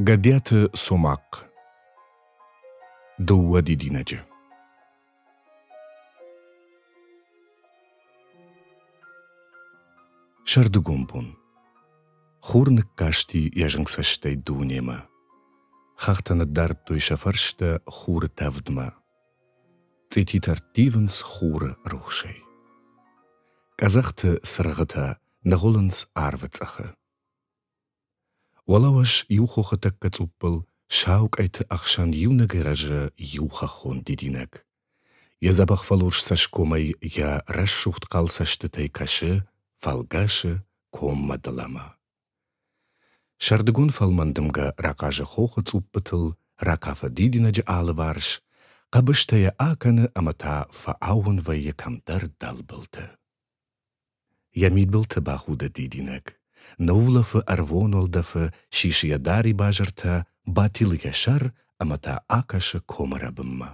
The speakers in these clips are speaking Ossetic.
Гӕдиаты Цомахъ Дыууӕ дидинӕджы Сӕрдыгон бон Хур ныккасти йӕ зынг цӕстӕй дунемӕ. Хӕхтӕ ныддардтой сӕ фӕрстӕ хуры тӕвдмӕ. Цъититӕ рттивынц хуры рухсӕй. Къӕдзӕхты цыргъытӕ ныгъуылынц арвы цъыхы. Уӕлӕуӕс иу хохы тӕккӕ цъуппыл сау къӕйты ӕхсӕн иунӕгӕй рӕзы иу хӕххон дидинӕг. Йӕ дзӕбӕх фӕлурс цӕсгомӕй йӕ рӕсугъд хъал цӕстытӕй кӕсы фӕлгӕсы коммӕ дӕлӕмӕ. Сӕрдыгон фӕлмӕн дымгӕ рахъазы хохы цъуппытыл, ракафы дидинӕджы алыварс, хъӕбыстӕ йӕ акӕны ӕмӕ та фӕаууон вӕййы кӕмдӕр дӕлбылты. Йӕ мидбылты бахуды дидинӕг. Ныуулӕфы ӕрвон уӕлдӕфы, сисы йӕ дарибазыртӕ, батилы йӕ сӕр ӕмӕ та акӕсы комы рӕбынмӕ.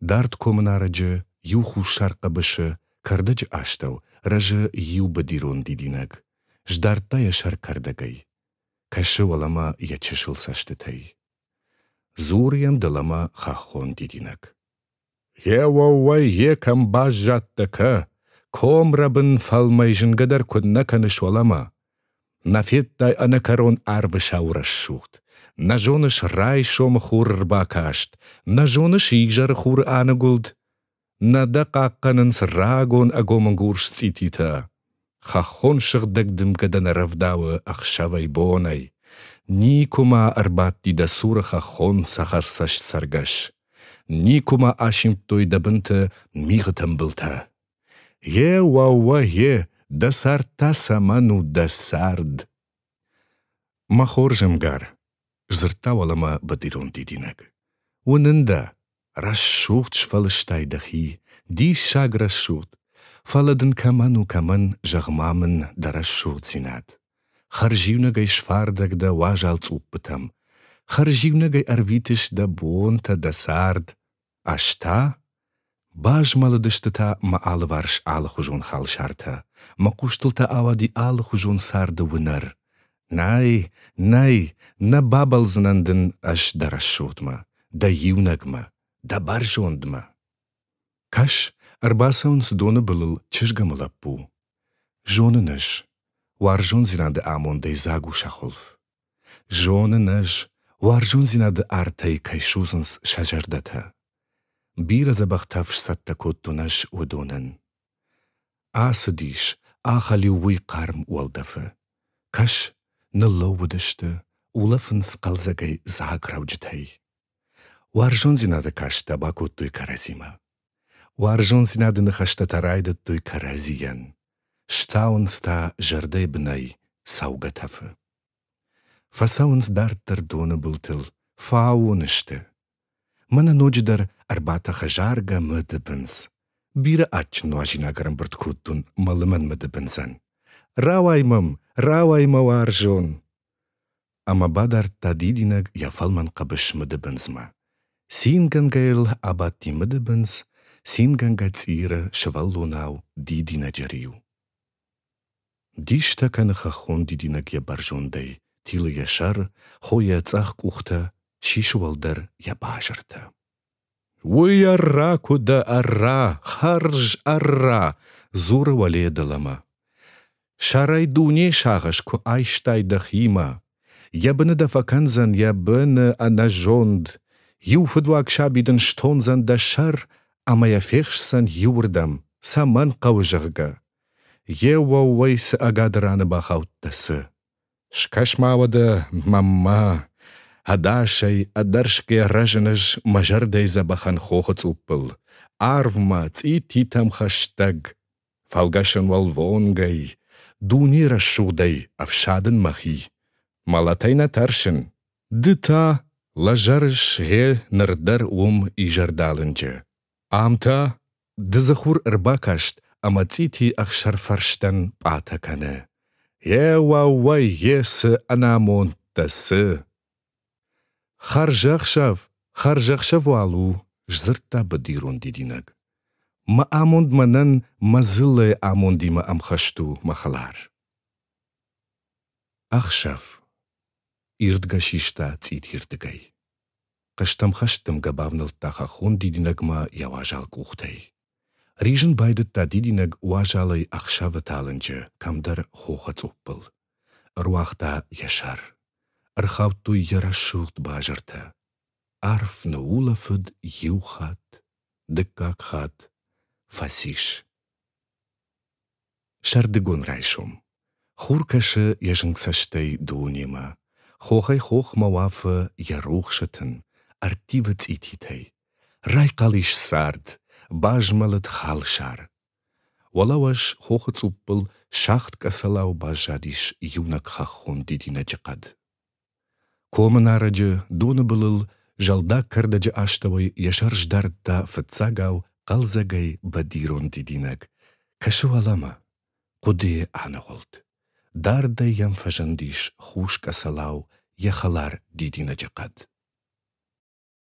Дард комы нарӕджы иу хуссар хъӕбысы, кӕрдӕджы астӕу, рӕзы иу быдирон дидинӕг. Сдардта йӕ сӕр кӕрдӕгӕй. Кӕсы уӕлӕмӕ йӕ чысыл цӕстытӕй. Дзуры йӕм дӕлӕмӕ хӕххон дидинӕг. Гъе уӕууӕй, йе кӕм баззадтӕ, кӕ, комрӕбын фӕлмӕй зынгӕ дӕр куыд нӕ кӕныс уӕлӕмӕ! Нӕ федтай ӕнӕкӕрон арвы сау рӕсугъд, нӕ зоныс райсомы хуры рбакаст, нӕ зоныс изӕры хуры аныгуылд, нӕ дӕ хъахъхъӕнынц рагон ӕгомынгурс цъититӕ. Хӕххон сыгъдӕг дымгӕ дӕ нӕ рӕвдауы ӕхсӕвӕй-бонӕй. Никуыма ӕрбадти дӕ цуры хӕххон цӕхӕрцӕст цӕргӕс. Никуыма асимдтой дӕ бынты мигъы тымбылтӕ. Е, уӕууӕ, е, дӕ цард та цӕмӕн у дӕ цард? Мӕ хорзӕнгар, дзырдта уӕлӕмӕ бадирон дидинӕг, уынын дӕ, рӕсугъд сфӕлыстай дӕхи, диссаг рӕсугъд, фӕлӕ дын кӕмӕн у кӕмӕн, зӕгъ-ма мын дӕ рӕсугъддзинад. Хӕрзиунӕгӕй сфардӕг дӕ уазал цъуппытӕм, хӕрзиунӕгӕй ӕрвитыс дӕ бонтӕ, дӕ цард. Ӕз та базмӕлыдысты та мӕ алыварс алыхуызон халсартӕ, мӕ хъустыл та ауади алыхуызон царды уынӕр. Нӕй, нӕй, нӕ бабӕлдзынӕн дын ӕз дӕ рӕсугъдмӕ, дӕ иунӕгмӕ, дӕ бӕрзондмӕ. Кӕс, ӕрбацӕуынц доны былыл чызгӕмы лӕппу. Зонын ӕз, уарзондзинады амондӕй дзаг у сӕ хуылф. Зонын ӕз, уарзондзинады артӕй кӕй судзынц сӕ зӕрдӕтӕ. Бирӕ дзӕбӕхтӕ фсцӕттӕ кодтон ӕз уыдонӕн. Ацыдис, ахӕлиу уый хъарм уӕлдӕфы. Кӕс, ныллӕууыдысты, улӕфынц хъӕлдзӕгӕй дзаграуджытӕй. Уарзондзинады кӕрстытӕ бакодтой кӕрӕдзимӕ. Уарзондзинады ныхӕстӕ райдыдтой кӕрӕдзийӕн. Стауынц та зӕрдӕйы бынӕй цӕугӕ тӕфы. Фӕцӕуынц дарддӕр доны былтыл, фӕаууон сты. Мӕнӕ ноджыдӕр ӕрбатӕхы заргӕ мыдыбындз. Бирӕ адджын нуазинаг ӕрӕмбырд кодтон мӕ лымӕн мыдыбындзӕн. Рауай мӕм, рауай, мӕ уарзон! ӕмӕ бадардта дидинӕг йӕ фӕлмӕн хъӕбыс мыдыбындзмӕ. Цингӕнгӕ йыл абадти мыдыбындз, цингӕнгӕ цъиры сывӕллонау дидинӕджы риу. Дистӕ кӕны хӕххон дидинӕг йӕ бӕрзондӕй, тилы йӕ сӕр, хойы йӕ цъӕх къухтӕ, сисы уӕлдӕр йӕ базыртӕ. Уый ӕрра куы дӕ, ӕрра, хӕрз ӕрра, дзуры уӕле дӕлӕмӕ. Сӕрӕй дуне сагъӕс куы айстай дӕхимӕ. Йӕ быны дӕ фӕкӕндзӕн йӕ быны ӕнӕзонд. Иу фыдуаг саби дын стондзӕн дӕ сӕр ӕмӕ йӕ фехсдзӕн иуырдӕм, цӕмӕн хъӕуы, зӕгъгӕ. Йе уӕууӕй цы ӕгады раны бахаудтӕ, цы? Скӕс-ма уӕдӕ мӕнмӕ, ӕдасӕй, ӕдӕрсгӕ рӕзынӕз мӕ зӕрдӕйы дзӕбӕхӕн хохы цъуппыл, арвмӕ, цъититӕм хӕстӕг, фӕлгӕсӕн уӕлвонгӕй, дуне рӕсугъдӕй ӕфсадын мӕхи. Мӕлӕтӕй нӕ тӕрсын, ды та лӕзӕрыс гъе ныр дӕр уым изӕрдалынджы. Ам та дыдзыхур ӕрбакаст ӕмӕ цъити ӕхсӕрфӕрстӕн пъатӕ кӕны: Е уӕууӕй, е цы ӕнамондтӕ, цы! Хӕрзӕхсӕв, хӕрзӕхсӕв уал у, сдзырдта быдирон дидинӕг. Мӕ амонд мӕнӕн мӕ дзыллӕйы амондимӕ ӕмхӕст у, мӕ хӕлар. Ӕхсӕв. Ирдгӕ систа цъитирдыгӕй. Хъӕстӕмхӕстдымгӕ бавнӕлдта хӕххон дидинӕгмӕ йӕ уазал къухтӕй. Ризын байдыдта дидинӕг уазалӕй ӕхсӕвы талынджы кӕмдӕр хохы цъуппыл. Ӕруагъта йӕ сӕр. Ӕрхаудтой йӕ рӕсугъд базыртӕ. Арф ныуулӕфыд иу хатт, дыккаг хатт фӕцис. Сӕрдыгон райсом. Хур кӕсы йӕ зынг цӕстӕй дунемӕ. Хохӕй-хохмӕ уафы йӕ рухсы тын, ӕрттивы цъититӕй. Райхъал ис цард, базмӕлыд халсар. Уӕлӕуӕз хохы цъуппыл сагъд къӕцӕлау баззадис иунӕг хӕххон дидинӕджы хъӕд. Комы нарӕджы доны былыл зӕлдаг кӕрдӕджы астӕуӕй йӕ сӕр сдардта фыццагау хъӕлдзӕгӕй бадирон дидинӕг. Кӕсы уӕлӕмӕ. Хъуыдыйы аныгъуылд. Дардӕй йӕм фӕзындис хус къӕцӕлау йӕ хӕлар дидинӕджы хъӕд.